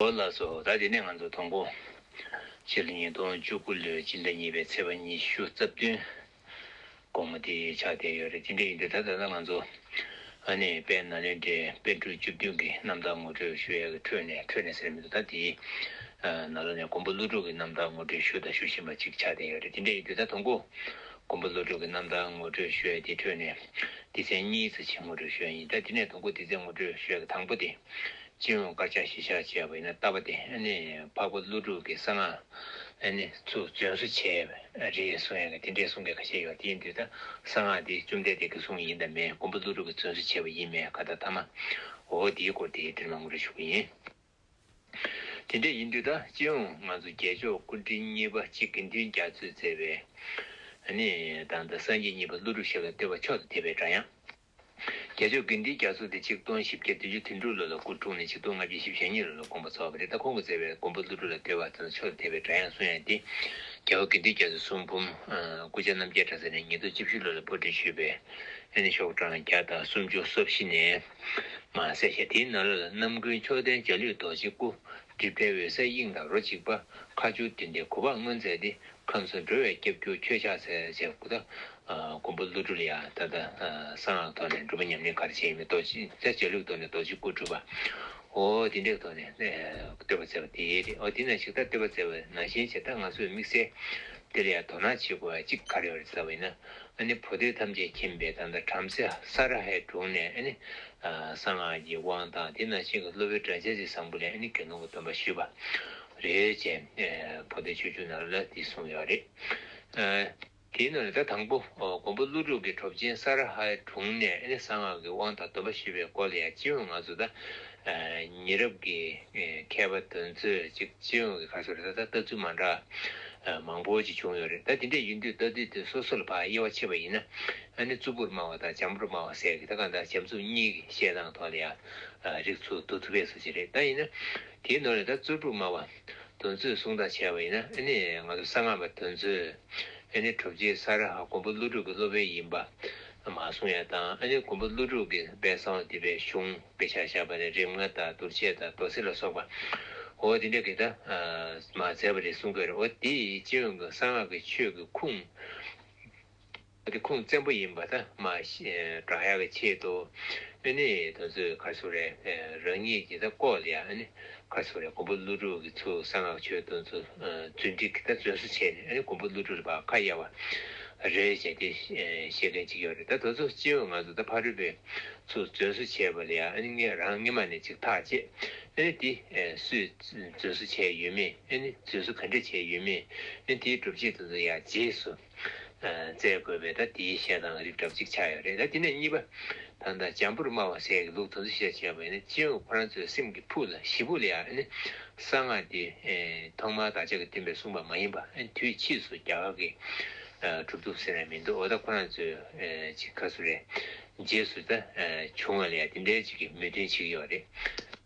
ཨོ་ལགས་སོ་ད་དེ་ནས་ང་ཚོ་དང་པོ། ཕྱི་ལོ་ཉིས་སྟོང་བཅུ་དགུ་ལོའི་སྤྱི་ཟླ་གཉིས་པའི་ཚེས་པ་ཉི་ཤུ་རྩ་བདུན། དགོང་མོ་དེ་ཆགས་བསྡད་ཡོད་རེད་དེ་འདྲ་ཡིན་དུས་ད་ལྟ་ང་ཚོ། ཨ་ནེ་དཔལ་ནཱ་ལེནྡྲའི་དཔལ་སྤྲུལ་བཅུ་བདུན་གྱི་རྣམ་ཐར་ངོ་སྤྲོད་ཞུ་ཡག་གི་ཁྲོད་ནས་ཁྲོད་ནས་ཟེར་མི་འདུག་ད་དེ། ནཱ་ལོ་ནས་མགོན་པོ་ཀླུ་སྒྲུབ་ཀྱི་རྣམ་ཐར་ངོ་སྤྲོད་ཞུ་དང་ཞུ་བཞིན་པ་ཅིག་ཆགས་བསྡད་ཡོད་རེད་དེ་འདྲ་ཡིན་དུས་ད་དང་པོ། མགོན་པོ་ཀླུ་སྒྲུབ་ཀྱི་རྣམ་ཐར་ངོ་སྤྲོད་ཞུ་ཡག་དེའི་ཁྲོད་ནས། སྡེ་ཚན་གཉིས་རྩ་ཆེན་ངོ་སྤྲོད་ཞུ་ཡག་ཡིན་ད་དེ་ནས་དང་པོ་སྡེ་ཚན་ངོ་སྤྲོད་ཞུ་ཡག་གི་དང་པོ་དེ། སྤྱི་ཡོངས་དཀར་ཆག་ཞི་ཆགས་བྱས་པ་ཡིན་ན་ལྟ་བ་དེ་འཕགས་པ་ཀླུ་སྒྲུབ་ཀྱི་གསང་སྔགས་ཚུལ་བཙོན་བཟོ་བྱས་པས་རེད་གསུང་ཡང་དེ་འདྲའི་གསུང་སྐད་ཁ་ཤས་ཡོད་དེའི་མདུན་ད་གསང་སྔགས་དེ་བཅོམ་ལྡན་འདས་ཀྱི་གསུང་ཡིན་དང་མིན་མགོན་པོ་ཀླུ་སྒྲུབ་ཀྱི་བཙོན་བཟོ་བྱས་པ་ཡིན་མིན་ག་ད་ཐ་མ་འོ་དེའི་སྐོར་དེ་འདྲིར་མ་ངུ་རེ་ཞུ་གི་ཡིན། དེ་འདྲ་ཡིན་དུས་ད་སྤྱི་ཡོངས་ང་ཚོ་རྒྱལ་མཆོག་སྐུ་དྲིན་གཉིས་པ་གཅིག་དགེ་འདུན་རྒྱ་མཚོས་མཛད་པའི། དང་ད་སངས་རྒྱས་གཉིས་པ་ཀླུ་སྒྲུབ་ཞབས་ལ་བསྟོད་པ་མཆོག་ཏུ་དད་པའི་སྒྲ་དབྱངས། རྒྱལ་ཆོས་དགེ་འདུན་རྒྱ་མཚོ་དེ་ཆིག་སྟོང་བཞི་བརྒྱ་བདུན་ཅུ་དོན་དྲུག་ལོ་ལ་སྐུ་འཁྲུངས་ནས་ཆིག་སྟོང་ལྔ་བརྒྱ་བཞི་བཞི་ཉིན་ལོ་ལ་དགོངས་པ་རྫོགས་པ་དེ་ལྟར་ཁོང་གི་མཛད་པའི་དགོངས་པ་ཀླུ་སྒྲུབ་ལ་འདུལ་བ་དང་ཕྱོགས་འཐད་པའི་སྒྲ་དབྱངས་གསུང་ཡང་སྟེ། རྒྱལ་བ་དགེ་འདུན་རྒྱ་མཚོའི་གསུང་འབུམ། སྐུ་ཕྱྭ་རྣམ་རྒྱལ་གྲྭ་ཚང་ནས་ཉིས་སྟོང་བཅུ་བཞི་ལོ་ལ་པར་སྐྲུན་ཞུས་པའི། ཨེ་ནི་ཤོག་གྲངས་བརྒྱ་དང་སུམ་ཅུ་སོ་བཞི་ནས། མ་ཟད་ཞལ་དེའི་ནང་ལོ་ལ་རྣམ་ཀུན་མཆོག་ལྡན་འཇའ་ལུས་རྡོ་རྗེ་སྐུ། སྒྲིབ་བྲལ་འོད་གསལ་དབྱིངས་དང་རོ་གཅིག་པ། ཁ་སྦྱོར་བདུན་ལྡན་གུ་པར་མངོན་མཛད་དེ་ཁམས་སུ་འགྲོ་བའི་སྐྱབས་གྱུར་ཁྱོད་ཕྱག་འཚལ་ཅེས་བསྒོ། མགོན་པོ་ཀླུ་སྒྲུབ་ལ་ཡང་ད་ལྟ་གསང་སྔགས་ཐོག་ནས་འགྲུབ་པ་ཉམས་ལེན་གར་བྱེད་ཡིན་མོད་རྡོ་རྗེ་རྩེ་གཅིག་ལུགས་ཐོག་ནས་རྡོ་རྗེ་སྐུར་གྲུབ་པ། འོ་དེ་འདྲའི་ཐོག་ནས་བསྟོད་པ་མཛད་པ་དེའི་རེད་འོ་དེ་ན་ཞིག་ད་བསྟོད་པ་མཛད་པ་ནང་བཞིན་བྱས་ད་ང་ཚོས་དམིགས་བསལ་འདིར་ཡང་དོ་སྣང་བྱེད་དགོས་པ་གཅིག་ག་རེ་བ་རེད་བསམ་བས་ན་ཨ་ནི་བོ་དེ་ཐམས་ཅད་མཁྱེན་པའི་ད་ལྟ་བྲམ་ཟེ་ས་ར་ཧའི་དྲུང་ནས་ཨ་ནི་གསང་སྔགས་ཀྱི་དབང་དང་དེ་ནང་བཞིན་གྱི་སློབ་དཔོན་བྲམ་ཟེ་རྗེ་བཟང་པོ་ལས་ཨ་ནི་དགེ་སློང་གི་སྟོན་པ་ཞུས་པ། རེད་ཅེས་བོ་ལྡེ་ཆོས་འབྱུང་ནང་ལ་དེ་གསུངས་ཡོད་རེད། དེའི་ནང་ལ་ད་དང་པོ་མགོན་པོ་ཀླུ་སྒྲུབ་ཀྱི་གྲོབ་ཆེན་ས་ར་ཧའི་དྲུང་ནས་ཨེ་ནི་གསང་སྔགས་ཀྱི་དབང་དང་སྡོམ་པ་ཞུས་པའི་སྐོར་ལ་ཡང་སྤྱི་ཡོངས་ང་ཚོ་ད་ཉེ་རབས་ཀྱི་མཁས་པ་དོན་གཙོས་ཅིག་སྤྱི་ཡོངས་ཀྱི་ཁ་ཤོར་ད་ལྟ་ལྟ་ཚུལ་མ་འདྲ་མང་པོ་ཅིག་བྱུང་ཡོད་རེད་ད་དེ་འདྲས་ཡིན་དུས་ལྟ་དུས་དུས་སོ་སོ་ལ་བག་དབྱེ་བ་ཕྱེ་བ་ཡིན་ན་ཨ་ནི་རྩུབ་པོར་སྨྲ་བ་དང་བྱམས་པོར་སྨྲ་བ་ཟེར་གི་ད་གང་ལྟར་བྱམས་རྩུབ་གཉིས་ཀྱི་བཤད་སྟངས་ཐོག་ལ་ཡང་རིགས་ཚུགས་འདུག་ཐུབ་པས་སུ་ཅི་རེད་ད་ཡིན་ན། དེའི་ནོར་ལས་ད་གཙོད་ཕྲུག་སྨྲ་བ། དོན་ཚོད་གསུང་དག་བྱས་པ་ཡིན་ན་ཨེ་ནས་ང་ཚོ་གསང་སྔགས་པ་དོན་ཚོད། ཨེ་ནས་གྲུབ་རྗེ་ས་ར་ཧ་མགོན་པོ་ཀླུ་སྒྲུབ་ཀྱི་སློབ་དཔོན་ཡིན་པ། མ་གསུང་ཡ་དང་ཨེ་ནས་མགོན་པོ་ཀླུ་སྒྲུབ་ཀྱི་དཔལ་གསང་བ་འདུས་པའི་གཞུང་དཔེ་ཆ་བཞག་པ་ནས་རིམ་ལྔ་དང་དུར་བྱས་དང་རྡོ་སེར་ལ་སོགས་པ། འོ་དེ་འདྲ་གི་ད་མ་མཛད་པ་རེད་གསུང་གི་རེད་འོ་དེ་ཅི་ཡོང་གི་གསང་སྔགས་ཀྱི་ཆོས་ཀྱི་ཁུངས། གལ་ཏེ་ཁུངས་བཙན་པོ་ཡིན་པ་ད་མ་བསྒྲགས་ཡག་གི་ཆེད་དུ་ཨེ་ནི་ད་ཚོད་གར་སོང་རེད་རང་ཉིད་ཀྱི་ད་ལྐོག་ལ་ཡག་ཨེ་ནི་གར་སོང་རེད་ཀོང་པོ་ཀླུ་སྒྲུབ་ཀྱི་ཚུལ་གསང་ངག་ཆོས་སྟོན་ཚུལ་རྫུན་སྒྲིག་གི་ད་བཙོན་བཟུང་བྱས་ནས་ཨེ་ནི་ཀོང་པོ་ཀླུ་སྒྲུབ་རེད་པ་ཁ་གཡར་བ་རེད་བྱས་ཏེ་བཤད་མཁན་གཅིག་ཡོད་རེད་ད་ད་ཚོད་སྤྱི་འོས་ང་ཚོ་ད་ཕ་རོལ་པོའི་ཚུལ་བཙོན་བཟུང་བྱས་པ་ལ་ཡག་ཨེ་ནི་ངས་རང་སྔེ་མ་ནས་ཅིག་ཐག་བཅད་ཨེ་ནི་དེ་སུས་བཙོན་བཟུང་བྱས་ཡོད་མེད་ཨེ་ནི་བཙོན་བཟུང་ག་འདྲས་བྱས་ཡོད་མེད་ཨེ་ནི་དེའི་སྒྲུབ་བྱེད་དོན་ཚུལ་ཡག་རྗེས་སུ། བཙལ་དགོས་པས་ད་དེའི་ཤད་དང་རིགས་གྲབ་ཅིག་ཆགས་ཡོད་རེད་ད་དེ་ནས་གཉིས་པ། ད་ད་འཇམ་པོར་སྨྲ་བ་ཟད་ཀྱི་ལུགས་དང་ཚུལ་བཤད་བྱས་པ་ཡིན་ན་ཅི་ཡང་ཁོ་རང་ཚོའི་སེམས་ཀྱི་ཕུགས་ལ་ཞི་བོ་ལས་ཨ་ནི། གསང་སྔགས་འདི། ཐོག་མར་བདག་ཅག་གི་སྟོན་པས་གསུངས་པ་མ་ཡིན་པ་དུས་ཕྱིས་སུ་རྒྱ་གར་གྱིས་གྲུབ་ཐུབ་ཟེར་ཡང་མི་འདུག་འོ་ད་ཁོ་རང་ཚོའི་ཅིག་ག་སུ་རེད། རྗེས་སུ་ད། བྱུང་བ་ལས་དེ་འདྲའི་ཅིག་གི་མོས་མཐུན་ཅིག་ཡོད་རེད།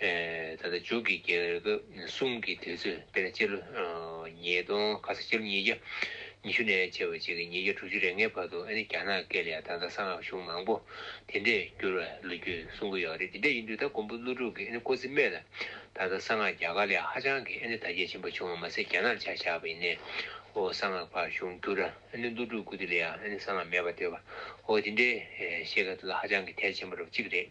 ད་ལྟ་འཇུག་གི་རྒྱལ་ཁབ་གསུམ་གྱི་དུས་ཚོད་དཔེར་ན་སྤྱི་ལོ་ཉིས་སྟོང་ག་ས་སྤྱི་ལོ་ཉིས་བརྒྱ་ཉི་ཤུ་ནས་ཕྱི་ལོ་བརྒྱད་ཀྱི་ཉིས་བརྒྱ་དྲུག་ཅུ་རེ་ལྔའི་བར་དུ་ཨ་ནི་རྒྱ་ནག་སྐད་ལས་ད་ལྟ་གསང་སྔགས་གཞུང་མང་པོ་དེ་འདྲས་བསྒྱུར་བའི་ལོ་རྒྱུས་གསུང་གི་ཡོད་རེད་དེ་འདྲས་ཡིན་དུས་ད་མགོན་པོ་ཀླུ་སྒྲུབ་ཀྱིས་ཨ་ནི་ཀོ་ཙི་སྨད་ལ་ད་ལྟ་གསང་སྔགས་རྒྱ་གར་ལས་ཧ་ཅང་གི་ཨ་ནི་དར་རྒྱས་ཆེན་པོ་བྱུང་བ་མ་ཟད་རྒྱ་ནག་ལ་ཆ་བཞག་པ་ཡིན་ནའོ་གསང་སྔགས་ཕར་གཞུང་བསྒྱུར་ར་ཨ་ནི་ཀླུ་སྒྲུབ་ཀུ་ཏི་ལའི་ཨ་ནི་གསང་སྔགས་མེད་པར་བསྟོད་པའོ་དེ་འདྲའི་བཤད་སྐད་དེ་ལ་ཧ་ཅང་གི་ཐལ་ཆེན་པོ་རབ་གཅིག་རེད།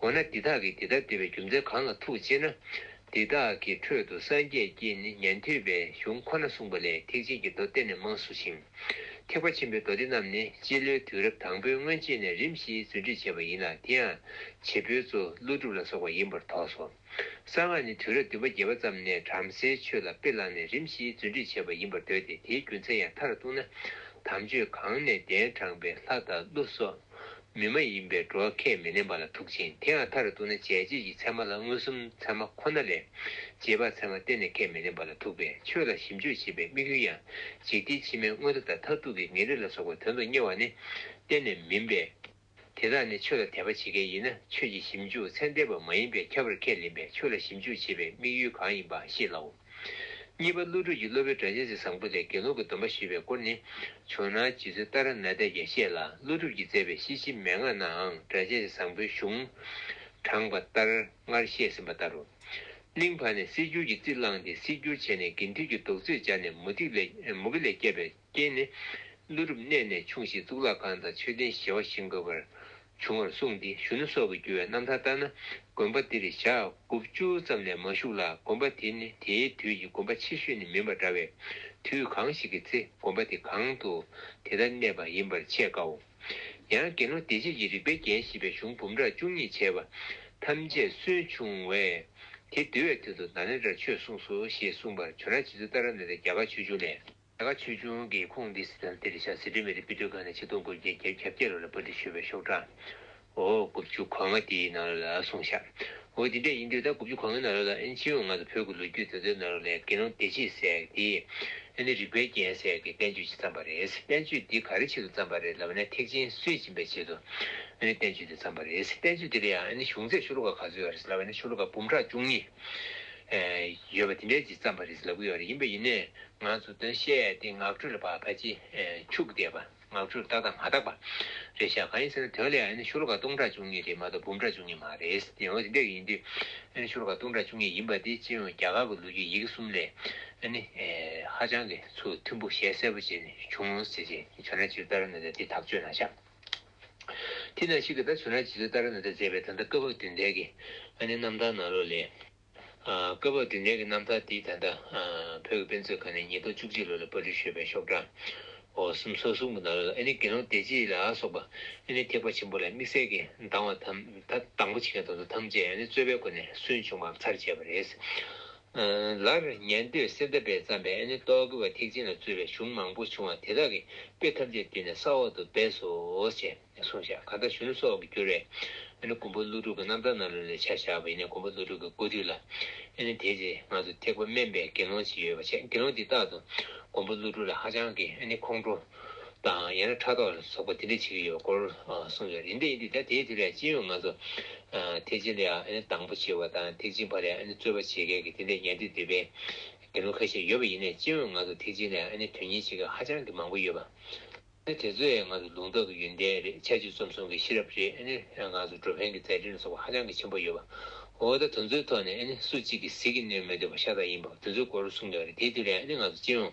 འོ་ན་འདི་དག་གིས་འདི་ལྟར་འདོད་པའི་རྒྱུ་མཚན་གང་ལ་ཐུག་ཅེ་ན། འདི་དག་གི་ཁྲོད་དུ་སངས་རྒྱས་ཀྱིས་ནི་ཉན་ཐོས་པའི་གཞུང་ཁོ་ན་གསུངས་པ་ལས་ཐེག་ཆེན་གྱི་མདོ་གཏེར་ནས་མང་གསུངས་ཤིང། ཐེག་པ་ཆེན་པོའི་མདོ་སྡེ་རྣམས་ནི་སྤྱི་ལོའི་དུས་རབས་དང་པོའི་སྔོན་ཆད་ནས་རིམ་བཞིན་རྫུན་སྒྲིག་བྱས་པ་ཡིན་ལ་དེ་ཡང་བྱེད་པོའི་གཙོ་ཀླུ་སྒྲུབ་ལ་སོགས་པ་ཡིན་པར་དོགས་སོ། གསང་སྔགས་ནི་དུས་རབས་བདུན་པ་བརྒྱད་པ་ཙམ་ནས་བྲམ་ཟེའི་ཆོས་ལ་དཔེ་བླངས་ནས་རིམ་བཞིན་རྫུན་སྒྲིག་བྱས་པ་ཡིན་པར་འདོད་དེ་དེའི་རྒྱུ་མཚན་ཡང་མཐར་གཏུགས་ན་དམ་ཆོས་གང་ནས་གདན་དྲངས་པའི་ལྷ་དང་ཀླུ་སོགས་མི་མ་ཡིན་པའི་འགྲོ་བ་ཁས་མི་ལེན་པ་ལ་ཐུག་ཅིང་དེའང་མཐར་གཏུགས་ན་བྱས་རྗེས་ཀྱི་ཚད་མ་ལ་མངོན་སུམ་ཚད་མ་ཁོ་ན་ལས། རྗེས་དཔག་ཚད་མ་གཏན་ནས་ཁས་མི་ལེན་པ་ལ་ཐུག་པས་ཆོས་ལ་ཞིབ་འཇུག་བྱེད་པའི་དམིགས་ཡུལ་ཡང་འཇིག་རྟེན་ཕྱི་མའི་དངོས་པོ་དང་མཐར་ཐུག་གི་ངེས་རིགས་ལ་སོགས་པའི་དོན་དུ་གཉེར་བ་ནི་གཏན་ནས་མིན་པས། དེ་དག་ནི་ཆོས་ལ་དད་པ་བྱེད་མཁན་ཡིན་ན་ཆོས་ཀྱི་ཞིབ་འཇུག་ཚད་འདས་པ་མ་ཡིན་པས་ཁྱབ་པར་ཁས་ལེན་པས་ཆོས་ལ་ཞིབ་འཇུག་བྱེད་པའི་དམིགས་ཡུལ་གང་ཡིན་པ་ཤེས་སླའོ། གཉིས་པ་ཀླུ་སྒྲུབ་ཀྱི་སློབ་པའི་སྒྲ་རྗེས་གཟིགས་བཟང་པོ་ལས་དགེ་སློང་གི་སྡོམ་པ་ཞི་བའི་སྐོར་ནི། བྱུང་ན་རྗེ་བཙུན་ཏཱ་ར་ནཱ་ཏས་ཀྱང་བཤད་ལ་ཀླུ་སྒྲུབ་ཀྱིས་མཛད་པའི་ཤེས་བྱེད་མན་ངག་ནའང་སྒྲ་རྗེས་གཟིགས་བཟང་པོའི་གཞུང། དྲངས་པ་ལྟར་སྔར་བཤད་ཟིན་པ་ལྟར་རོ། གླིང་བར་ནས་གསེར་འགྱུར་གྱི་རྩིས་བླངས་ཏེ་གསེར་འགྱུར་བྱས་ནས་དགེ་འདུན་གྱི་བདུག་རྩིར་སྦྱར་ནས་མུ་ཏིག་ལས་མུ་གེ་ལས་བསྐྱེད་པའི་རྐྱེན་ནི། ཀླུ་རུ་གནས་ནས་ཕྱུང་ཞིང་གཙུག་ལག་ཁང་དང་མཆོད་རྟེན་བཞེས་བ་བཞིན་དགོས་པར་འབྱུང་བར་གསུངས་ཏེ་གཞོན་ནུ་སྲོག་གི་རྒྱུ་བའི་རྣམ་ཐར་ལྟར་ན་དགོན་པ་འདིར་ཞག་དགུ་བཅུ་ཙམ་ལས་མ་བཞུགས་ལ་དགོན་པ་དེ་ནི་དེའི་དུས་ཀྱི་དགོན་པ་ཆེ་ཤོས་ནི་མིན་པ་འདྲ་བས་དུས་གང་ཞིག་གི་ཚེ་དགོན་པ་དེ་གང་དུ་དེ་ལྟར་གནས་པ་ཡིན་པར་འཆད་དཀའོ། ཡང་དགེ་སློང་སྡེ་བརྒྱད་ཀྱི་རིག་པའི་རྒྱན་བཞེས་པའི་གཞུང་འབུམ་ཕྲག་བཅུ་གཉིས་བྱས་པ་ཐམས་ཅད་སུན་ཕྱུང་བས་དེ་འདུལ་བའི་དོན་དུ་ན་ལེནྡྲར་ཆོས་གསུངས་སོ་ཞེས་གསུངས་པར་བྱོན་ར་བྱེད་ཚུལ་ཏཱ་ར་ནཱ་ཐའི་རྒྱ་གར་ཆོས་འབྱུང་ལས། ད་ག་ཆོས་འབྱུང་གི་ཁུངས་འདི་སི་ཐན་ཏེར་ཤ་སི་ཏུ་མེ་རི་སྤི་ཏུ་ཁ་ནས་ཆིག་སྟོང་དགུ་བརྒྱ་བརྒྱད་བརྒྱ་བརྒྱད་ལོ་ལ་པར་འབྲི་ཞུས་པའི་ཤོག་གྲངས་ཨོ་དགུ་བཅུ་གོ་ལྔ་དེའི་ནང་ལོ་ལ་གསུངས་ཤག་ཨོ་དེ་འདྲས་ཡིན་དུས་ད་དགུ་བཅུ་གོ་ལྔའི་ནང་ལོ་ལ་ཨེན་ཅི་ཡོང་ང་ཚོ་བོད་ཀྱི་ལོ་རྒྱུས་དེ་ཚོའི་ནང་ལོ་ལས་དགེ་སློང་བདེ་སྐྱིད་ཟེགས་དེས་ཨེ་ནི་རིག་པའི་རྒྱན་ཟེགས་ཀྱི་བསྟན་བཅོས་ཅིག་བརྩམས་པ་རེད་བསྟན་བཅོས་འདི་ག་རེ་ཆེད་དུ་བརྩམས་པ་རེད་ལབ་ནས་ཐེག་ཆེན་སུས་སྦྱིན་པའི་ཆེད་དུ་ཨེ་ནི་བསྟན་བཅོས་འདི་བརྩམས་པ་རེད་བསྟན་བཅོས་འདི་ལ་ཡང་ཨེ་ནི་གཞུང་ཚད་ཤོ་ལོ་ཀ་ག་ཚོད་ཡོད་རེད་ལབ་ཨེ་ནི་ཤོ་ལོ་ཀ་འབུམ་ཕྲག་བཅུ་གཉིས། ཡོད་པ་དེ་འདྲའི་ཇི་ཙམ་པར་རེད་ལབ་གི་ཡོད་རེད་ཡིན་པས་ཡིན་ནའི་ང་ཚོ་དོན་བཤད་དེ་ངག་འཁྲུལ་ལ་བར་ཕལ་ཆེ་འཆུག་བསྡད་པ་ངག་འཁྲུལ་རྟག་དང་མ་རྟག་པ་རེད་ཤག་གང་ཡིན་ཟེར་ན་དོན་ལ་ཡང་ཨ་ནི་ཤུར་ཁ་སྟོང་ཕྲག་བཅུ་གཉིས་རེད་མ་གཏོགས་འབུམ་ཕྲག་བཅུ་གཉིས་མ་རེད་དེ་ཡང་དེ་འདྲ་ཡིན་དུས་ཨ་ནི་ཤུར་ཁ་སྟོང་ཕྲག་བཅུ་གཉིས་ཡིན་པ་དེ་སྤྱི་ཡོངས་རྒྱ་གར་གི་ལོ་རྒྱུས་ཡི་གེ་གསུམ་ལས་ཨ་ནི་ཧ་ཅང་གི་ཚུལ་མཐུན་པོ་ཞལ་གསལ་པོ་བྱས་ནས་བྱུང་ཟེར་བྱས་ཇོ་ནང་སྤྱིར་ལྟར་ན་དེ་དག་བཅོས་ན་ཤག། དེ་ནས་ཤིག་གེ་དང་བྱུ་ར་ཇི་ལྟ་ལྟར་ན་དེ་མཛད་པས་ད་ལྟ་བཀའ་བབས་དུས་འདས་ཀྱི་ཨ་ནི་རྣམ་ཐར་ནང་ལོ་ལས། བཀའ་བབས་དུས་འདས་ཀྱི་རྣམ་ཐར་འདི་ད་ལྟ་བོད་ཀྱི་དཔེ་མཛོད་ཁང་ནས་ཉིས་སྟོང་བཅུ་གཅིག་ལོ་ལས་པར་འབྲི་ཞོལ་པའི་ཤོག་གྲངས་འོག་གསུམ་སོ་གསུམ་གྱི་ནང་ལོ་ལ་ཨ་ནི་དགེ་སློང་སྡེ་བརྒྱད་ལ་སོགས་པ་ཨ་ནི་ཐེག་པ་ཆེན་པོ་ལ་དམིགས་བསལ་གྱི་སྡང་བ་དང་དང་པོ་བྱེད་མཁན་དང་དུ་ཐམས་ཅད་ཨ་ནི་རྩོད་པའི་སྒོ་ནས་སུན་ཕྱུང་བར་མཚར་བཅད་པ་རེད། ལར་ཉན་ཐོས་གསེར་མདའ་པས་བརྩམས་པའི་ཨེ་ནི་རྟོག་གེ་བ་ཐེག་ཆེན་ལ་རྩོད་པའི་གཞུང་མང་པོ་བྱུང་བ་དེ་དག་གི་དཔེ་ཐམས་ཅད་བསྡུས་ནས་ས་འོག་ཏུ་སྦས་སོ། ཅེས་གསུངས་བྱ་ག་ད་གཞོན་ནུ་སོགས་ཀྱིས་བསྒྱུར་བའི་ཨེ་ནི་མགོན་པོ་ཀླུ་སྒྲུབ་ཀྱི་རྣམ་ཐར་ན་ལུང་ལས་ཆ་བཞག་པ་ཡིན་ནས་མགོན་པོ་ཀླུ་སྒྲུབ་ཀྱི་སྐུ་དུས་ལ་ཨེ་ནི་དེའི་རྗེས་ང་ཚོ་ཐེག་པ་སྨན་པའི་དགེ་སློང་ཅིག་ཡོད་པ་བྱས་དགེ་སློང་དེ་རྟག་ཏུ་མགོན་པོ་ཀླུ་སྒྲུབ་ལ་ཧ་ཅང་གི་ཨེ་ནི་ཁོང་ཁྲོ། དང་ཡང་ན་ཕྲག་དོག་ལ་སོགས་པ་དེ་འདྲ་བྱེད་ཀྱི་ཡོད་སྐོར་གསུངས་ཡོད་རེད་འདི་ཡིན་དུས་ད་ལྟའི་དུས་ལས་ཅི་ཡོད་ང་ཚོ་ཐེག་ཆེན་ལ་དང་པོ་བྱེད་པ་དང་ཐེག་ཆེན་ཕ་ལས་རྩོད་པ་བྱེད་མཁན་གྱི་དེ་འདྲའི་ཉན་ཐོས་དུད་པའི་དགེ་སློང་ཁ་ཤས་ཡོད་པ་ཡིན་ནས་ཅི་ཡོད་ང་ཚོ་ཐེག་ཆེན་ལས་དོན་གཉེར་བྱེད་མཁན་ཧ་ཅང་གི་མང་པོ་ཡོད་པ་དེ་ཚོས་ང་ཚོ་ལུང་རྟོགས་ཀྱི་ཡོན་ཏན་རེད་ཆ་བྱད་རྩོམ་གསུམ་གྱི་ཤེས་རབ་རེད་ང་ཚོ་འགྲོ་ཕན་གྱི་མཛད་འཕྲིན་ལ་སོགས་པ་ཧ་ཅང་གི་ཆེན་པོ་ཡོད་པ་འོ་ད་དེ་ཚོའི་ཐོག་ནས་སུ་གཅིག་གིས་ཟིལ་གྱིས་གནོན་མི་འདོད་པ་ཤ་སྟག་ཡིན་པ་དེ་ཚོའི་སྐོར་གསུངས་ཡོད་རེད་དེའི་དུས་ལས་ང་ཚོ་ཅི་ཡོང།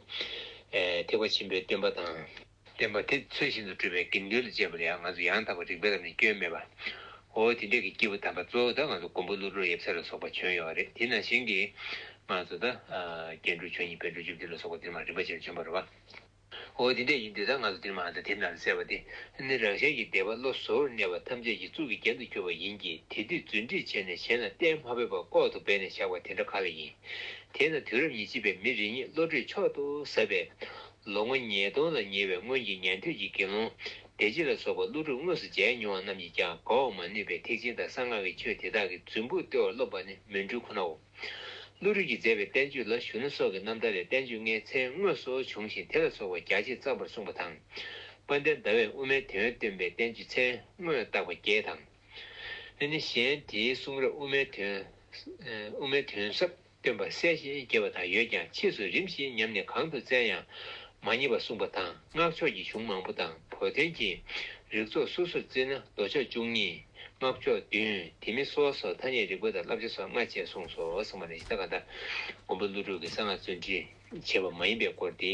ཐེག་པ་ཆེན་པོའི་སྟོན་པ་དང། སྟོན་པ་དེ་ཚུལ་བཞིན་དུ་སྤྲུལ་པའི་དགེ་འདུན་ལ་སྤྱད་པ་ལ་ཡང་ང་ཚོ་ཡང་དག་པར་རིག་པའི་ལམ་ནས་སྐྱོན་མེད་པ། འོ་དེ་འདྲས་ཀྱི་སྐྱེས་བུ་དམ་པ་གཙོ་བོ་དག་ང་ཚོ་མགོན་པོ་ཀླུ་སྒྲུབ་ཡབ་སྲས་ལ་སོགས་པ་བྱོན་ཡོད་པ་རེད་དེ་ནང་བཞིན་གྱི། ང་ཚོ་ད། རྒྱན་དྲུག་ཆོས་གཉིས་པའི་འགྲོ་བྱེད་བདུད་ལ་སོགས་པ་འདིར་མ་རིག་པ་ཅན་བྱོན་པར་བ། འོ་དེ་འདྲས་ཡིན་དུས་ད་ང་ཚོ་འདིར་མ་དང་དེར་ན་ལ་ཟེར་བ་དེ་ནི་རང་གཞན་གྱི་བདེ་བ་བློ་གཟུ་བོར་གནས་པ་ཐམས་ཅད་ཀྱི་གཙུག་གི་རྒྱན་དུ་གྱུར་པ་ཡིན་གྱི་དེ་དུས་རྫུན་སྒྲིག་བྱས་ནས་བྱས་ན་གཏན་མ་བོས་པར་ལྐོག་ཏུ་སྦས་ནས་བཞག་པ་དེ་འདྲ་ག་ལ་ཡིན། དེས་ན་དུས་རབས་ཉི་གཅིག་པའི་མི་རེ་གཉིས་བློ་གྲོས་མཆོག་ཏུ་ཟབ་པས། ལོ་ངོ་ཉིས་སྟོང་ལ་ཉེ་བའི་སྔོན་གྱི་ཉན་ཐོས་ཀྱི་དགེ་སློང། བདེ་སྐྱིད་ལ་སོགས་པ་ཀླུ་སྒྲུབ་དངོས་སུ་མཇལ་མྱོང་བ་རྣམས་ཀྱིས་ཀྱང་དགའ་བར་མ་ནུས་པའི་ཐེག་ཆེན་དང་གསང་སྔགས་ཀྱི་ཆོས་དེ་དག་གི་རྫུན་ཕུག་ལྟེ་བར་སློབ་པ་ནི་མུན་སྤྲུལ་ཁོ་ནའོ། ཀླུ་རིགས་ཀྱིས་མཛད་པའི་བསྟན་བཅོས་ལ་གཞོན་ནུ་སོགས་ཀྱི་རྣམ་ཐར་ལས་བསྟན་བཅོས་ལྔའི་མཚན་དངོས་སུ་བྱུང་ཞིང་དེ་ལ་སོགས་པ་རྒྱ་ཆེར་བརྩམས་པར་གསུངས་པ་དང། དཔལ་ལྡན་ཟླ་བས་དབུ་མའི་དོན་སྟོན་པའི་བསྟན་བཅོས་མཚན་དངོས་བཏགས་པ་བརྒྱད་དང། ཨེ་ནི་གཞན་དེའི་གསུང་རབ་དབུ་མའི་དོན། དབུ་མའི་དོན་ཟབ་སྟོན་པ་གསལ་བཤད་རྒྱས་པ་དག་ཡོད་ཀྱང་ཕྱིས་སུ་རིམ་བཞིན་ཉམས་ནས་གང་དུ་བཙལ་ཡང་མ་རྙེད་པ་གསུངས་པ་དང་སྔགས་ཕྱོགས་ཀྱི་གཞུང་མང་པོ་དང་བོ་དོན་གྱི་རིགས་ཚོགས་སོ་སོར་བརྩིས་ན་མདོ་ཕྱོགས་བཅུ་གཉིས། སྔགས་ཕྱོགས་བདུན། དེ་མིན་སོ་སོར་ཐ་སྙད་རིག་པ་དང་བསླབ་བྱ་སོགས་ལྔ་བཅས་གསུངས་སོ་གསུངས་པ་ནི་གཞི་བདག་མཁའ་འདབ་མགོན་པོ་ཀླུ་སྒྲུབ་ཀྱི་གསང་སྔགས་བརྩོན་འགྲུས་ཆེ་བ་མ་ཡིན་པའི་སྐོར་ཏེ།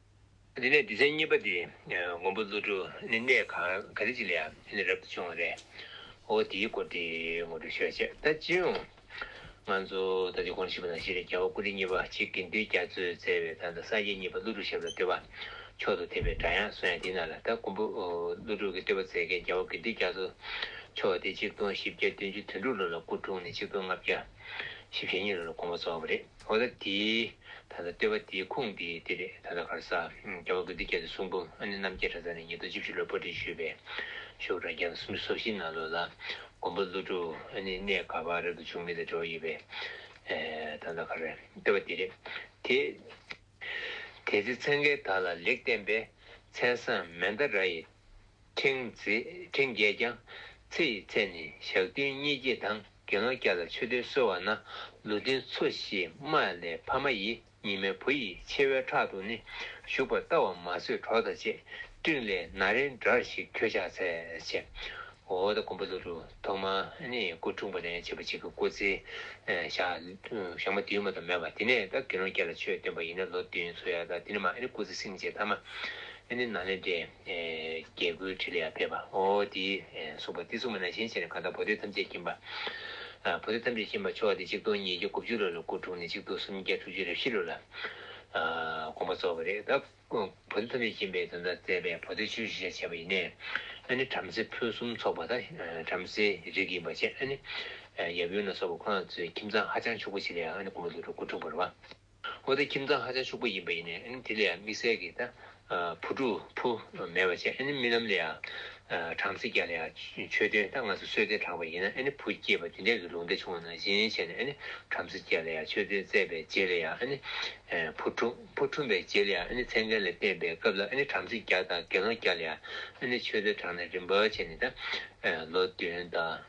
དེ་ནས་སྡེ་ཚན་གཉིས་པ་དེ་མགོན་པོ་ཀླུ་སྒྲུབ་ནི་གནས་ག་རེ་ཅིག་ལ་ཡང་རབ་ཏུ་བྱུང་བ་རེད། ཨོ་དེའི་སྐོར་དེ་ངོ་སྤྲོད་ཤོག་ཅེས་ད་ཅི་ཡོང། ང་ཚོ་ད་ཆ་གོང་ཞིག་པ་ན་གཞི་ནས་རྒྱལ་བ་ཀུན་བདེ་གཉིས་པ་ཆེ་དགེ་འདུན་རྒྱ་མཚོས་བསྩལ་བའི་ད་ནི་སངས་རྒྱས་གཉིས་པ་ཀླུ་སྒྲུབ་ཞབས་ལ་བསྟོད་པ་མཆོག་ཏུ་ཐེབས་པའི་སྒྲ་དབྱངས་གསོལ་ཡང་དེའི་ནང་ལ་ད་མགོན་པོ་ཀླུ་སྒྲུབ་ཀྱི་བསྟོད་པ་མཛད་མཁན་རྒྱལ་བ་དགེ་འདུན་རྒྱ་མཚོ་མཆོག་དེ་ཆིག་སྟོང་བཞི་བརྒྱ་བདུན་ཅུ་དོན་དྲུག་ལོ་ལ་སྐུ་འཁྲུངས་ནས་ཆིག་སྟོང་ལྔ་བརྒྱ་བཞི་བཞི་གཉིས་ལོ་ལ་དགོངས་པ་རྫོགས་པ་རེད། འོ་ད་དེ། ད་ལྟ་ལྟོས་པ་དེའི་ཁུངས་དེ་འདི་རེད་ད་ལྟ་གར་ས། རྒྱལ་བ་དགོན་འདི་རྒྱལ་དུ་གསུངས་འབུམ་ཨ་ནེ་རྣམ་རྒྱལ་གྲྭ་ཚང་ནས་ཉིས་སྟོང་བཅུ་བཞི་ལོར་པར་སྒྲིག་ཞུས་པའི། ཤོག་གྲྭ་རྒྱལ་བ་སུམ་ཅུ་སོ་བཞི་ནང་ལོ་ལ། མགོན་པོ་ཀླུ་སྒྲུབ་ཨ་ནེ་གནས་སྒར་བག་རེབ་ཏུ་བྱུང་མི་དེ་འགྲོ་ཡི་བས། ད་ལྟ་གར། ལྟོས་པ་དེ་རེད་དེ། དེ་ཚེ་མཚན་མཁན་དག་ལ་ལེགས་བསྟན་པའི། མཚན་བཟང་མན་དཱ་ར་ཡི། ཕྲེང་རྒྱས་ཀྱང། ཚེ་ཡི་ཚད་ནི་ཞག་བདུན་གཉིས་བརྒྱད་དང། དགེ་སློང་སྐྱ་ལ་མཆོད་བསྟོད་གསོལ་བ་ན། ལུས་རྟེན་ཚོ་བཞི་མ་ལས་ཕ་མ་ཡི། ཉི་མའི་བུ་ཡི་མཆེ་བའི་ཁྲག་ཏུ་ནི། ཞུགས་པར་ལྟ་བ་མ་ཟོས་གྲོགས་དང་བཅས། སྤྲིན་ལས་ན་རེ་འདྲར་ཞིག་ཁྱོད་ཕྱག་འཚལ། ཅེས་འོ་ད་ཀོམ་པ་ལུ་རུ་ཐོག་མ་ནི་སྐུ་འཁྲུངས་པ་ནས་བྱེད་པ་གཅིག་གི་སྐུ་ཚེ། ཞག་མ་བདུན་མ་དང་མོས་པ་དེ་ནས་དགེ་སློང་སྐྱ་ལ་མཆོད་བསྟོད་པ་ཡིན་ན་ལོ་བདུན་འཚོ་ཡ་དག་དེ་ནས་མ་ཨེ་ནི་སྐུ་ཚེ་སྲིང་བཅས་ཐ་མ་ཨེ་ནི་ན་ལེ་འབྲས། རྒྱལ་ཀུན་འཕྲིན་ལས་ཡར་འཕེལ་བ། ཨོ་དེའི་གསུངས་པ་ཏི་སུ་མ་ན་གཞན་ཕྱིར་གང་དག་བོ་དོད་ཐམས་ཅད་མཁྱེན་པ། བོ་དོད་ཐམས་ཅད་མཁྱེན་པར་ཕྱོགས་ཏེ་གཅིག་སྟོང་ཉིས་བརྒྱ་དགུ་བཅུ་ལོ་ལ་སྐུ་འཁྲུངས་ནས་གཅིག་སྟོང་སུམ་བརྒྱ་དྲུག་ཅུ་རེ་བཞི་ལོ་ལ་དགོངས་པ་རྫོགས་པ་རེད་ད། བོ་དོད་ཐམས་ཅད་མཁྱེན་པའི་དོན་དང་བཙས་པའི་བོ་དོད་ཆེན་པོ་བཞི་ཆ་བྱས་པ་ཡིན། ཨ་ནི་བྲམ་ཟེ་ཕུན་སུམ་ཚོགས་པ་དང་བྲམ་ཟེའི་རིགས་ཡིན་པར་བྱས། ཨ་ནི་ཡབ་ཡུམ་ལ་སོགས་པ་ཁོ་རང་ཚོའི་ཁྱིམ་ཚང་ཧ་ཅང་ཕྱུག་པོ་ཆེ་ལས་ཨ་ནི་དགུང་ལོ་དྲུག་ཅུར་སྐུ་འཁྲུངས་པར་བ། འོ་དེ་ཁྱིམ་ཚང་ཧ་ཅང་ཕྱུག་པོ་ཡིན་པ་ཡིན་ནའི་དེ་ལས་ཡང་དམིགས་བསལ་གྱི་བུ་ཕྲུག་བུ་མེད་པ་ཅན་རྨི་ལམ་ལས་ཡང་བྲམ་ཟེ་བརྒྱ་ལ་ཡང་ཆོས་སྟོན་ད་ང་ཚོ་གསོལ་སྟོན་གྲགས་པ་ཡིན་ནའི་བུ་སྐྱེས་པ་དེ་འདྲས་ཀྱི་ལུང་བསྟན་བྱུང་བ་ནང་བཞིན་བྱས་ནའི་བྲམ་ཟེ་བརྒྱ་ལ་ཡང་ཆོས་སྟོན་བཙས་པའི་རྗེས་ལ་ཡང་བུ་ཕྲུག་བུ་འཁྲུངས་པའི་རྗེས་ལ་ཡང་མཚན་མཁན་ལ་བསྟན་པའི་སྐབས་ལ་བྲམ་ཟེ་བརྒྱ་དང་དགེ་སློང་བརྒྱ་ལ་ཡང་ཆོས་སྟོན་གྲགས་ནས་རིམ་པར་བྱས་ནས་ལོ་བདུན་དང།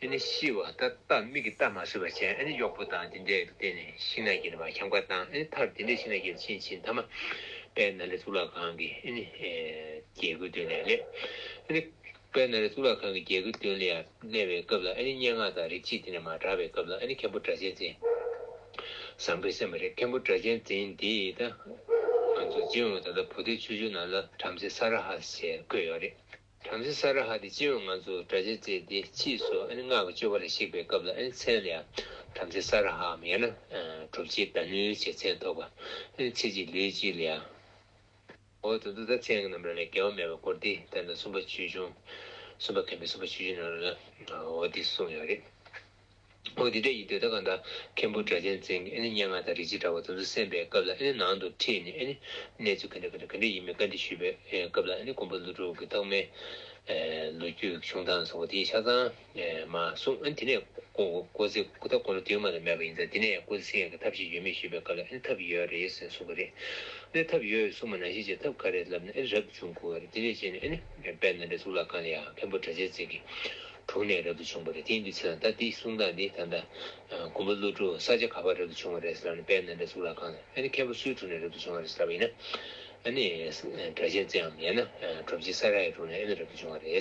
ཨེ་ནི་ཤི་བ་ད་ལྟ་མིག་གིས་བལྟ་མ་བཟོད་པ་ཅན་ཨེ་ནི་གཡོག་པོ་དང་དེ་འདྲས་ཀྱི་སྟེང་ནས་ཤིང་ནགས་ཀྱི་ནི་བ་འཁྱམས་ཀ་དང་ཨེ་ནི་མཐར་དེ་འདྲས་ཤིང་ནགས་ཀྱི་ནི་ཕྱིན་ཕྱིན་ཐ་མ་པའི་ན་རེ་གཙུག་ལག་ཁང་གི་ཨེ་ནི་རྒྱལ་ཀུན་སྟོན་ལས་སླད་ཨེ་ནི་པའི་ན་རེ་གཙུག་ལག་ཁང་གི་རྒྱལ་ཀུན་སྟོན་ལས་ཡར་སླད་པའི་སྐབས་ལ་ཨེ་ནི་སྙན་ངག་དང་རིག་བྱེད་དེ་ནས་མ་གྲགས་པའི་སྐབས་ལ་ཨེ་ནི་མཁན་པོ་སྒྲ་གཅན་འཛིན་བཟང་པོའི་སེམས་པ་རེད་མཁན་པོ་སྒྲ་གཅན་འཛིན་འདིས་ད་ང་ཚོ་སྦྱིན་འོང་བའི་ད་ལྟ་བོ་དེའི་ཆུ་ཆུ་ནང་ལ་བྲམ་ཟེ་ས་ར་ཧ་ཟེར་བཀོད་ཡོད་རེད། བྲམ་ཟེ་ས་ར་ཧ་དེ་སྤྱི་བོས་ང་ཚོ་དགྲ་ཇེ་བརྩེ་སྟེ་མཆིས་སོ་ཨ་ནི་སྔགས་ཀྱི་སྤྱོད་པ་ལ་གཞིགས་པའི་སྐབས་ལ་ཨ་ནི་མཚན་ལ་བྲམ་ཟེ་ས་ར་ཧའམ་ཡང་ན་གྲུབ་བྱེད་ད་ནུའི་བྱེད་མཚན་ཐོགས་པ་ཨ་ནི་ཚེ་གཅིག་ལུས་གཅིག་ལ་ཡང། འོག་ཏུ་འདུག་ད་མཚན་གྱི་རྣམ་གྲངས་ལས་འགལ་བ་མེད་པར་བསྐོར་ཏེ་ལྟར་ན་གསུམ་པ་ཆོས་འབྱུང། གསུམ་པ་མཁན་པོའི་གསུམ་པ་ཆོས་འབྱུང་རྣམ་གྲངས་ལ་འོ་དེ་གསུངས་ཡོད་རེད། ཨོ་དི་ཏའི་ཡི་དོད་ད་གང་དང་མཁན་པོ་སྒྲ་གཅན་འཛིན་གྱི་སྙན་ངག་དང་རིག་བྱེད་དྲ་བ་དུམ་ཚོད་གསན་པའི་སྐབས་ལ་ནང་དུ་ཁྲིད་ནས་གནས་ཚུལ་ག་འདྲ་ག་འདྲ་ག་འདྲ་ཡིན་མིན་བཀའ་འདྲི་ཞུས་པའི་སྐབས་ལ་དགོན་པ་ཀླུ་སྒྲུབ་ཀྱི་རྟགས་མའི་ལོ་རྒྱུས་ཀྱི་བྱུང་སྟངས་སོགས་དེའི་ཆ་ཚང་མ་གསུངས་དེ་ནས་ཀོ་ཟེ་ཀུ་ད་དགོན་ལ་དུས་མ་དང་མེད་པ་ཡིན་ཙང་དེ་ནས་ཀོ་ཟེ་སེང་གེ་ཐབས་ཤེས་ཡོད་མེད་ཞུས་པའི་སྐབས་ལ་ཐབས་ཡོད་རེད་ཟེར་གསུངས་པ་རེད་ཐབས་ཡོད་གསུངས་མ་ནང་བཞིན་བྱས་ཐབས་ག་རེ་ལབ་ནས་རབ་བྱུང་དགོས་རེད་དེ་ནས་བྱས་ནས་དཔལ་ནཱ་ལེནྡྲའི་གཙུག་ལག་ཁང་ལ་ཡང་མཁན་པོ་སྒྲ་གཅན་འཛིན་གྱི་དྲུག་ནས་རབ་ཏུ་བྱུང་བ་རེད་དེ་འདུས་ཚད་ལ་ད་འདི་གསུང་སྟངས་འདི་ད་ལྟ། མགོན་པོ་ཀླུ་སྒྲུབ་ས་ཆ་ག་པར་རབ་ཏུ་བྱུང་བ་རེད་ཟེར་ལབ་ནས་དཔལ་ནཱ་ལེནྡྲའི་གཙུག་ལག་ཁང་ལ་ཨ་ནི་མཁན་པོ་སུའི་དྲུང་ནས་རབ་ཏུ་བྱུང་བ་རེད་ཟེར་ལབ་ཡིན་ན། ཨ་ནི། བྲ་ཆེན་རྩེའམ་ཡང་ན་གྲུབ་རྗེ་ས་ར་ཡའི་དྲུང་ནས་ཨེ་ནི་རབ་ཏུ་བྱུང་བ་རེད།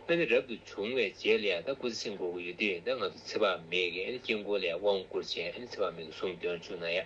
ཨ་ནི་རབ་ཏུ་བྱུང་བའི་རྗེས་ལ་ཡང་ད་སྐུ་ཚེ་ཆེན་འགོར་གི་ཡོད་དེ་ད་ང་ཚོ་ཚེ་དཔག་མེད་ཀྱི་ཨ་ནི་དཀྱིལ་འཁོར་ལས་དབང་བསྐུར་བྱས་ཨ་ནི་ཚེ་དཔག་མེད་ཀྱི་གཟུངས་འདོན་བཅུག་ན་ཡག།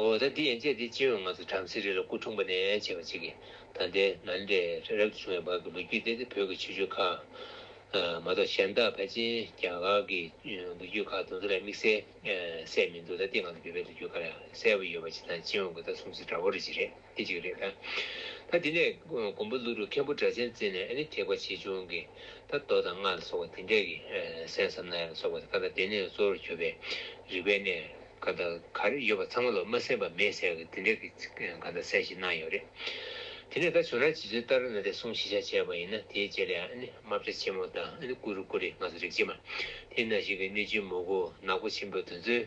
ཨོ་ད་འདི་ཡན་ཆད་འདི་སྤྱི་འོས་ང་ཚོ་བྲམ་ཟེ་རི་ལ་སྐུ་འཁྲུངས་པ་ནས་བྱས་པ་ཅིག་གིས་ད་ལྟའི་ང་འདྲའི་རབ་ཏུ་བྱུང་བའི་བར་གྱི་ལོ་རྒྱུས་སྟེ་འདི་བོད་ཀྱི་ཆོས་བརྒྱུད་ཁག་མ་གཏོགས་གཞན་དག་ཕལ་ཆེན་རྒྱ་གར་གྱི་ལོ་རྒྱུས་ཁག་དང་དེ་ལ་དམིགས་བསལ་གསལ་མི་འདུག་ད་ལྟའི་ང་ཚོ་བོད་པའི་ལོ་རྒྱུས་ཁག་ལ་གསལ་བོ་ཡོད་པ་ཅིག་དང་སྤྱི་འོས་ཀྱི་ལྟ་སྲུང་ཚིག་འདྲ་བོ་རེ་ཅིག་རེད། དེ་གཅིག་རེད། ད་དེ་ནས་མགོན་པོ་ཀླུ་རུ་མཁན་པོ་སྒྲ་གཅན་བཙན་ནས་ཨ་ནི་ཐེག་པ་ཆེ་ཆུང་གི་ད་མདོ་དང་སྔགས་ལ་སོགས་པ་དེ་འདྲས་ཀྱི་གསན་བསམ་ན་ཡང་སོགས་པ་ཀ་ད་དེ་ནས་གཙོ་བོར་གྱུར་པའི་རིག་པའི་གནས་ཀ་ད་གར་ཡོད་པ་ཚང་མ་ལ་མ་གསན་པ་མེད་ཟེར་གི་དེ་འདྲས་ཀྱི་ཀ་ད་གསན་བཞིན་གནང་ཡོད་རེད། དེ་ནས་ད་བྱུང་ན་ཇི་ཚོད་ལྟར་ན་དེ་གསུང་བཞི་ཆ་བྱས་པ་ཡིན་ན་དེའི་རྗེས་ལ་ཡང་ཨ་ནི་རྨ་བྱ་ཆེན་མོ་དང་ཨ་ནི་ཀུ་རུ་ཀུ་རི་ང་ཚོ་རིག་བྱེད་མ་དེ་ན་ཞིག་གི་གནོད་སྦྱིན་མོ་གོ་ནག་པོ་ཆེན་པོ་དེ་ཚོའི་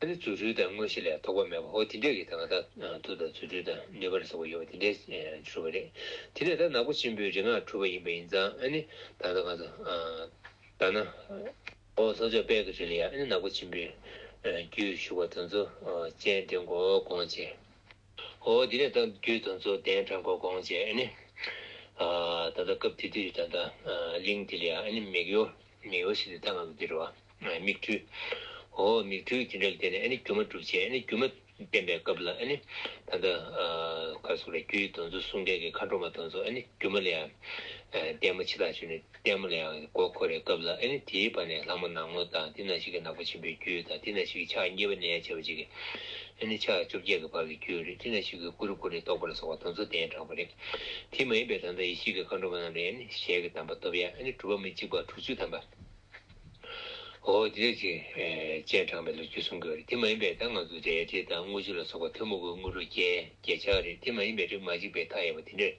ཨ་ནི་རྫུ་འཕྲུལ་དང་དངོས་གཞི་ལས་དོགས་པ་མེད་པ་ཧོ་དེ་འདྲས་ཀྱི་དང་ད་ཐུག་དང་རྫུ་འཕྲུལ་དང་ནུས་པ་ལ་སོགས་པ་ཡོད་པ་དེ་འདྲས་འཕྱུར་བ་རེད། དེ་ནས་ད་ནག་པོ་ཆེན་པོའི་རིག་སྔགས་འཁྲུལ་པ་ཡིན་པ་ཡིན་ཙང་ཨ་ནི་ད་ནག་པོ་ད་ནག་པོ་ལྷོ་ཕྱོགས་དཔལ་གྱི་རི་ལ་ཡང་ཨ་ནི་ནག་པོ་ཆེན་པོའི་རྒྱུད་བཞུགས་པ་དོན་གཙོ་སྤྱན་འདྲེན་གོ་དགོངས་བྱས། ཧོ་དེ་ནས་ད་རྒྱུད་དོན་གཙོ་གདན་དྲངས་གོ་དགོངས་བྱས་ཨ་ནི་ད་ད་སྐབས་དེ་དུས་ད་ད་གླིང་དེ་ལ་ཡང་ཨ་ནི་མིག་ཡོར་ཞིག་ཏུ་ད་ང་ཚོ་འདིར་བ། མིག་འཕྲུལ། འོ་མིག་འཕྲུལ་གྱི་འབྲེལ་དེ་ནི་སྒྱུ་མ་སྒྲུབ་བྱེད་སྒྱུ་མ་བསྟན་པའི་སྐབས་ལ་ད་ལྟ་ཁ་སོ་རེ་རྒྱུའི་གདོན་ཚུལ་གསུང་འགྲེལ་གྱི་མཁའ་འགྲོ་མ་དང་སོགས་སྒྱུ་མ་ལས་ལྡན་མོ་འཆི་བདག་ཆོས་ནི་ལྡན་མོ་ལས་མགོ་འཁོར་བའི་སྐབས་ལ་དེའི་བར་ནས་ལྷ་མོ་ནག་མོ་དང་དེ་ན་ཞིག་གི་ནག་པོ་ཆེན་པོའི་རྒྱུད་དང་དེ་ན་ཞིག་གི་ཕྱག་གཉིས་པ་ནས་བྱེ་བ་གཅིག་གི་ཕྱག་བཅོ་བརྒྱད་ཀྱི་བར་གྱི་རྒྱུད་རེ་དེ་ན་ཞིག་གི་ཀུ་རུ་ཀུ་རེ་རྟོགས་པ་ལ་སོགས་པ་གདོན་ཚུལ་ལྡན་དྲག་པོ་རེ་དེ་མ་ཡིན་པའི་དང་དང་ཡེ་ཤེས་ཀྱི་མཁའ་འགྲོ་མ་རྣམས་ལས་ཞལ་གྱི་གདམས་པ་སྟོབས་ཡངས་གྲུབ་པ་མི་གཅིག་པ་དྲུག་ཅུ་ཐམ་པ། ཨོ་རྒྱན་གྱིས་སྤྱན་དྲངས་པའི་ལོ་རྒྱུས་གསུང་གི་རེད་དེ་མ་ཡིན་པའི་ད་ང་ཚོ་འདྲའི་དྲི་དང་དངུལ་ཆུ་ལ་སོགས་པ་ཐུན་མོང་གི་དངུལ་རོ་རྒྱལ་རྒྱལ་ཆགས་རེད་དེ་མ་ཡིན་པའི་རིགས་མ་གཅིག་པའི་མཐའ་ཡས་པ་དེ་འདྲས་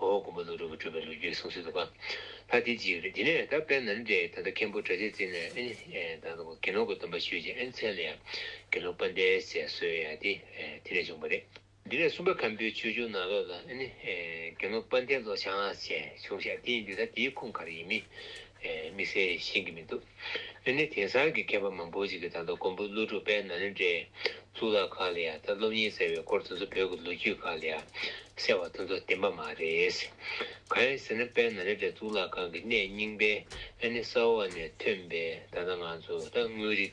ཨོ་མགོན་པོ་ཀླུ་སྒྲུབ་པ་གྲུབ་པའི་ལོ་རྒྱུས་གསུང་སྲོལ་དུ་པ་ལྷ་དེ་གཅིག་རེད་དེ་ནས་ད་དཔལ་ནཱ་ལེནྡྲའི་ད་ལྟ་མཁན་པོ་གྲ་ཆས་བརྩིས་ནས་ཨེ་ད་དགེ་སློང་གི་སྡོམ་པ་ཞུས་རྗེས་ཨེ་མཚན་ལ་ཡང་དགེ་སློང་པ་འདས་ཟེར་སྲོལ་ཡང་དེ་དེ་ནས་བྱུང་བ་རེད། འདི་ལས་གསུམ་པ་ཁམ་བུའི་ཆོས་འབྱུང་ནང་ལོགས་ལ་ནི། དགེ་སློང་སྤང་ཐེན་ལོ་བྱང་ལགས་བཅས་བྱུང་ཤག་དེ་ཡིན་དུས་ད་དེའི་ཁུངས་ག་རེ་ཡིན་མིན། དམིགས་བསལ་ཤེས་ཀྱི་མི་འདུག། ནི་དེང་སང་གི་མཁས་པ་མང་པོ་ཞིག་གིས་ད་ལྟ་ཀོང་པོའི་ཀླུ་སྒྲུབ་དཔལ་ནཱ་ལེནྡྲའི་གཙུག་ལག་ཁག་ལ་ཡང་ད་སློབ་གཉེར་ཟེར་བའི་སྐོར་དེ་ཚོ་བོད་ཀྱི་ལོ་རྒྱུས་ཁག་ལ་ཡང་གསལ་བ་དེ་ཚོ་བདེན་པ་མ་རེད། གང་ཡིན་ཟེར་ན་དཔལ་ནཱ་ལེནྡྲའི་གཙུག་ལག་ཁང་གི་གནས་རྙིང་པའི་ནི་ས་འོག་ནས་ཐོན་པའི་ད་ལྟ་ང་ཚོ་ད་དངོས་རིག་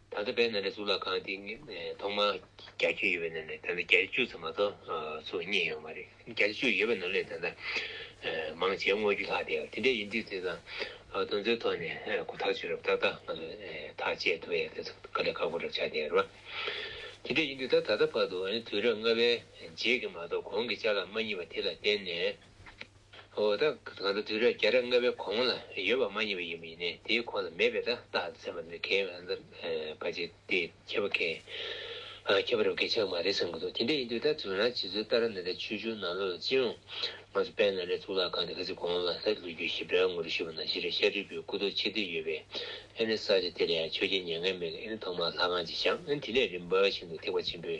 ད་ལྟ་བས་ན་ནི་གཙུག་ལག་ཁང་འདི་ཐོག་མར་གྱ་གཅིག་ཡོད་པའི་ནང་ནས་ད་ལྟ་གྱ་བཅུ་ཙམ་མ་གཏོགས་སུ་རྙེད་ཡོད་མ་རེད། གྱ་བཅུ་ཡོད་པའི་ནང་ནས་ད་ལྟ་མང་ཆེ་བརྔོས་རྒྱུ་ལྷག་དེ་དེ་འདྲའི་ཡིན་དུས་དེ་དང་དོན་ཚན་ཐོག་ནས་གོ་ཐག་ཆོད་རབས་ཏག་ཏག་ང་ཚོས་ཐག་བཅད་ཐུབ་ཡ་དེ་ཚོ་ག་ལེ་ཁག་པོ་རབས་ཆགས་བསྡད་རོགས། དེ་འདྲའི་ཡིན་དུས་ད་ད་ལྟ་བར་དུ་དུས་རབས་ལྔ་པའི་རྗེས་ཀྱི་མ་གཏོགས་གོང་གི་ལྕགས་ལ་མ་རྙེད་པ་དེ་ལ་བརྟེན་ནས། ཨོ་ད། གང་ལྟར་དུས་རབས་བརྒྱ་ཕྲག་ལྔ་པའི་གོང་ལ་ཡོད་པ་མ་ཡིན་པ་ཡིན་པ་ཡིན་ནས་དེའི་གོང་ལ་མེད་པའི་ཏག་ཏག་ཚན་པ་འདི་ཁྱེད་རང་ཚོ་ཕ་རྗེས་དེ་ཁྱད་པར་གལ། ཁྱད་པར་རབ་གལ་ཆགས་མ་རེད་བསམ་གྱི་འདུག་དེ་འདྲ་ཡིན་དུས་ད་དུས་རང་བྱེད་ཚུལ་ལྟར་ན་དེ་ཆོས་འབྱུང་ནང་ལོག་ལ་ཅི་ཡོང། ང་ཚོ་དཔལ་ནཱ་ལེནྡྲའི་གཙུག་ལག་ཁང་དེ་ག་ཚོད་གོང་ལ་ལྷ་ཀླུ་རྒྱུད་ཞིབ་ཕྲའི་ངོ་རུ་ཞུས་པ་ན་གཞི་རིག་ཤ་ཁྲིད་པའི་སྐུ་རྡོ་ཆེ་བསྡུས་ཡོད་པས་ཨེ་ནི་ས་ཆ་དེ་ལ་ཡང་ཆོས་རྒྱལ་མྱ་ངན་མེད་ལ་ཨེ་ནི་ཐོག་མར་ལྷ་ཁང་ཅིག་བཞག་ཨེ་ནི་དེ་ནས་རིམ་པ་བཞིན་དུ་ཐེག་པ་ཆེན་པོའི་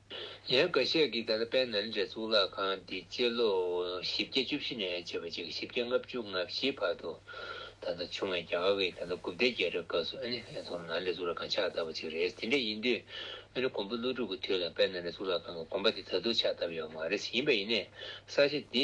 ཡང་བཀའ་ཤག་གིས་ད་ལྟ་དཔལ་ནཱ་ལེནྡྲའི་གཙུག་ལག་ཁང་འདི་སྤྱི་ལོ་བཞི་བརྒྱ་བཅུ་བཞི་ནས་བྱེ་བ་གཅིག་གི་བཞི་བརྒྱ་ལྔ་བཅུ་ང་བཞིའི་བར་དུ་ད་ལྟ་བྱུང་བའི་རྒྱ་གར་གྱི་ད་ལྟ་དགུ་བརྒྱ་རྒྱལ་རབས་སྐབས་སུ་ཨ་ནི་ཨེ་ཐོག་ནཱ་ལེནྡྲའི་གཙུག་ལག་ཁང་ཕྱག་བཏབ་པ་ཅིག་རེད་དེ་འདྲ་ཡིན་དུས་ཨ་ནི་གོང་བུ་ཀླུ་སྒྲུབ་ཀྱི་དུས་ལ་དཔལ་ནཱ་ལེནྡྲའི་གཙུག་ལག་ཁང་གི་དགོན་པ་དེ་ད་དུང་ཕྱག་བཏབ་ཡོད་པ་མ་རེད་ཡིན་པ་ཡིན་ནས་ས་ཆ་འདི་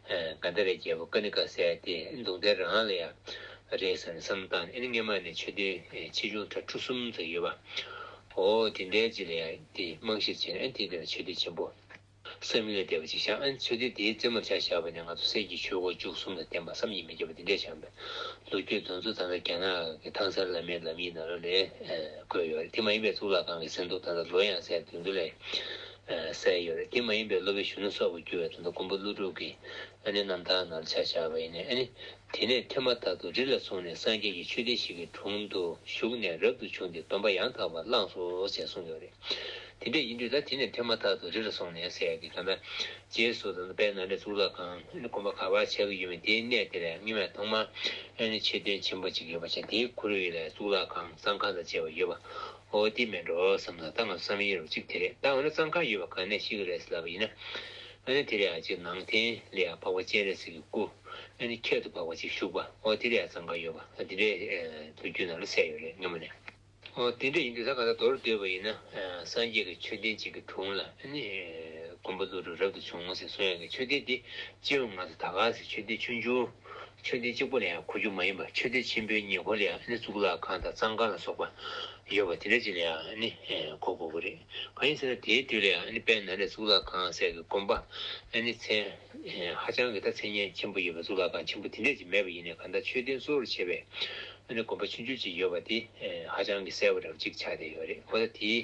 ག་འདི་རེད་རྒྱལ་པོ་ཀ་ནི་ཀ་ཟས་དེ་འདུག་འདི་རང་ལ་ཡང་རེད་ཟེར་ནས་བསམ་བཏང་ཨེ་ནི་སྔས་མ་ནི་ཆོས་སྡེ་ཆེ་ཆུང་གྲྭ་ཁྲུ་གསུམ་ཙམ་ཡོད་པ་འོ་དེ་འདྲའི་རྗེས་ལ་ཡང་དེ་རྨང་གཞིར་བྱས་ནས་ཨེ་དེ་འདི་ན་ཆོས་སྡེ་ཆེན་པོ་སེམས་ངལ་བདེ་བ་ཅིག་བཞག་ཨེ་ཆོས་སྡེ་དེའི་རྩེ་མོར་བྱ་བཞག་པ་ནི་ང་ཚོ་སེར་གྱི་ཆོས་སྒོ་བཅུ་གསུམ་ལ་བརྟེན་པ་བསམ་གྱིས་མི་ཁྱབ་པ་དེ་འདྲའི་བྱ་མདོ་རྒྱུད་གདོན་ཚུལ་ད་ལྟ་རྒྱ་ནག་གི་ཐང་སར་བླ་མའི་ལམ་ཡིག་ནང་ལོ་ལས་བཀོད་ཡོད་རེད་དེ་མ་ཡིན་པའི་གཙུག་ལག་ཁང་གི་གསེར་མདོག་ད་ལྟ་ལོ་ཡང་ཟད་དུས་མདོ་ལས་གསལ་ཡོད་རེད་དེ་མ་ཡིན་པའི་སློབ་བུ་གཞོན་ནུ་སོགས་ཀྱི་རྒྱུ་བའི་དོན་དུ་མགོན་པོ་ཀླུ་སྒྲུབ་ཀྱིས་ཨ་ནེ་རྣམ་དག་ནར་ཕྱག་བྱ་བ་ཡིན་ནས་ཨ་ནེ་དེ་ནས་ཐོས་མ་ཐག་ཏུ་རི་ལ་སོང་ནས་སངས་རྒྱས་ཀྱི་ཆོས་སྡེ་ཞིག་གི་དྲུང་དུ་བཞུགས་ནས་རབ་ཏུ་བྱུང་སྟེ་སྡོམ་པ་ཡང་དག་པར་བླངས་སོ་ཞེས་གསུངས་ཡོད་རེད། དེ་འདྲས་ཡིན་དུས་ད་དེ་ནས་ཐོས་མ་ཐག་ཏུ་རི་ལ་སོང་ནས་ཟས་ཀྱི་དོན་དང། རྗེས་སུ་ད་དཔལ་ནཱ་ལེནྡྲའི་གཙུག་ལག་ཁང་ཨ་ནེ་དགོན་པ་ག་བར་བྱ་གི་ཡོད་མེད་དེའི་གནས་དེར་ཡང་རྙིང་བས་ཐོག་མར་ཨ་ནེ་ཆོས་སྡེ་ཆེན་པོ་གཅིག་ཡོད་པ་བྱས་དེའི་གུ་རུ་ཡིད་ལ་གཙུག་ལག་ཁང་གསང་ཁང་དང་བཅས་པ་ཡོད་པ། ཨོ་དེ་མིན་འགྲོ་བསམ་ན་ད་ང་ཚོ་བསམ་ཡས་རོ་གཅིག་དེ་རེད་ད་འོ་ན་གཙང་ཁ་ཡོད་པ་ག་ནས་ཤི་གི་རེད་ཟེར་ལབ་པ་ཡིན་ན་འོ་ན་དེ་རེད་ཨ་ཅེ་ནང་བསྟན་ལས་ཡག་འཕགས་པ་སྤྱན་རས་གཟིགས་ཀྱི་སྐུ་འོ་ན་ཁྱད་དུ་འཕགས་པ་ཅིག་བཞུགས་པ་ཨོ་དེ་རེད་ཨ་གཙང་ཁ་ཡོད་པ་ཨ་དེ་འདྲས་དུ་རྒྱུད་ནང་ལ་གསལ་ཡོད་རེད་སྙམ་མོ་ནས། ཨོ་དེ་འདྲས་ཡིན་དུས་ད་ག་ད་དོར་སྡོད་པ་ཡིན་ན་སངས་རྒྱས་ཀྱི་མཆོད་རྟེན་གཅིག་གི་དྲུང་ལ་འོ་ན་མགོན་པོ་ཀླུ་སྒྲུབ་རབ་ཏུ་བྱུང་ཟེར་སོང་ཡང་གི་མཆོད་རྟེན་དེ་སྤྱི་བོའི་ངང་དུ་ད་ག་ཟེར་མཆོད་རྟེན་ཆུང་ཆུང། མཆོད་རྟེན་གཅིག་པོ་ལ་ཡང་གོ་རྒྱུ་མ་ཡིན་པར་མཆོད་རྟེན་ཆེན་པོའི་ཉེ་འཁོར་ལ་ཡང་ནི་གཙུག་ལག་ཁང་དང་གཙང་ཁང་ལ་སོགས་པ་ཡོད་པ་དེ་འདྲ་ཅིག་ལ་ཡང་ནི་གོ་དགོས་པ་རེད། གང་ཡིན་ཟེར་ན་དེའི་དུས་ལ་ཡང་ནི་དཔལ་ནཱ་ལེནྡྲའི་གཙུག་ལག་ཁང་སའི་གི་དགོན་པ་ལ་ནི་མཚན་ཧ་ཅང་གི་ད་མཚན་སྙན་ཆེན་པོ་ཡོད་པའི་གཙུག་ལག་ཁང་ཆེན་པོ་དེ་འདྲ་ཅིག་མེད་པ་ཡིན་ནས་གང་ལྟར་མཆོད་རྟེན་གཙོ་བོར་བྱས་པའི་དགོན་པ་ཆུང་ཆུང་ཅིག་ཡོད་པ་དེ་ཧ་ཅང་གི་གསལ་བོ་རེ་བ་ཅིག་ཆགས་བསྡད་ཡོད་རེད་གོ་ད་དེའི་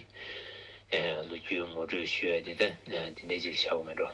ལོ་རྒྱུས་ངོ་སྤྲོད་ཞུ་ཡ་དེ་ད་དེ་འདྲ་ཅིག་ལ་བཞག་གོ་མེད་འགྲོ།